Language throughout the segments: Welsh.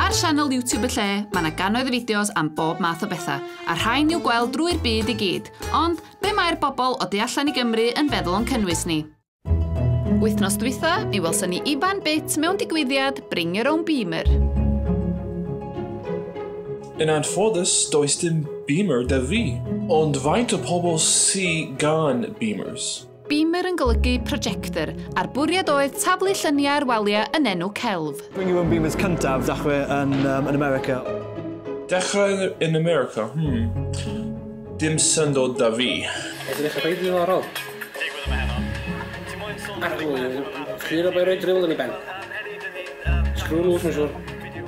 Ar sianel YouTube y lle, mae yna gannoedd o fideos am bob math o bethau, a rhain i'w gweld drwy'r byd i gyd. Ond, be mae'r bobl o du allan i Gymru yn feddwl o'n cynnwys ni? Wythnos dwytha, mi welson ni Ivan Bit mewn digwyddiad Bring Your Own Beamer. Yn anffodus, does dim Beamer 'da fi. Ond faint o pobl sy gan Beamers? Beamer yn golygu projector, a'r bwriad oedd taflu lluniau ar waliau yn enw celf. Bring your own Beamers cyntaf ddechrau yn yn America. Dechrau yn America? Hmm. Dim syndod 'da fi. Edrych yn reit ddiddorol. Arglwydd, clir a boi roi driwl yn ei ben. Sgrw lŵs mae'n siŵr.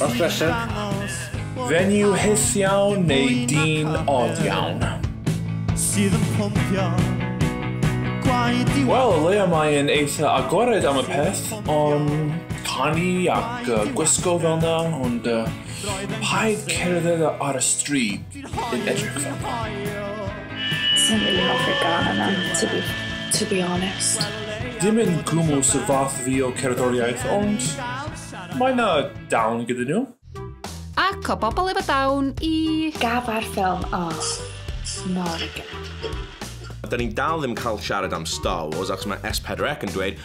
Os belled, venue hyth iawn neu dyn od iawn. Sydd yn pwmpio gwaed i Wel, o leia mae e'n eitha agored am y peth, ond canu ac gwisgo fel 'na, ond paid cerdded ar y stryd. Hoyw, ti'n hoyw. Sa'n really hoffi'r gan yna, to be, to be honest. Dim yn gwmwl sy'n fath fi o cerddoriaeth, ond mae na dawn gyda nhw. Ac o bobl efo dawn i... Gaf ar ffilm os mor Da ni'n dal ddim cael siarad am Star Wars achos mae S4C yn dweud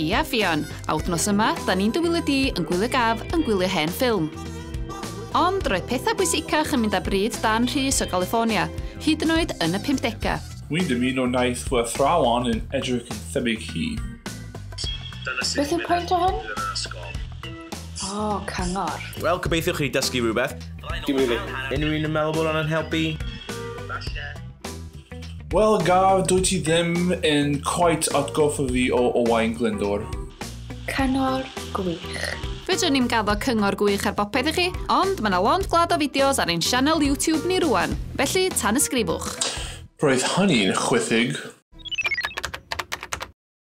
Ia Ffion, a wthnos yma, da ni'n dy wylio di yn gwylio gaf yn gwylio hen ffilm. Ond roedd pethau bwysicach yn mynd â bryd Dan Rhys o Galiffornia, hyd yn oed yn y pumdegau. Wi'n dymuno wnaeth fy athrawon yn edrych yn thebyg hi. Beth yw pwynt o hwn? O, cyngor. Wel, gobeithio chi dysgu rhywbeth. Dim rili. Unrhyw un yn meddwl bod hwn yn helpu? Falle. Wel, Garth, dwyt ti ddim yn cweit atgoffa fi o Owain Glyndwr. Cyngor gwych. Fedrwn ni'm gaddo cyngor gwych ar bopeth i chi, ond mae yna lond gwlad o fideos ar ein sianel YouTube ni rwan, felly tan ysgrifwch. Roedd hynny'n chwithig.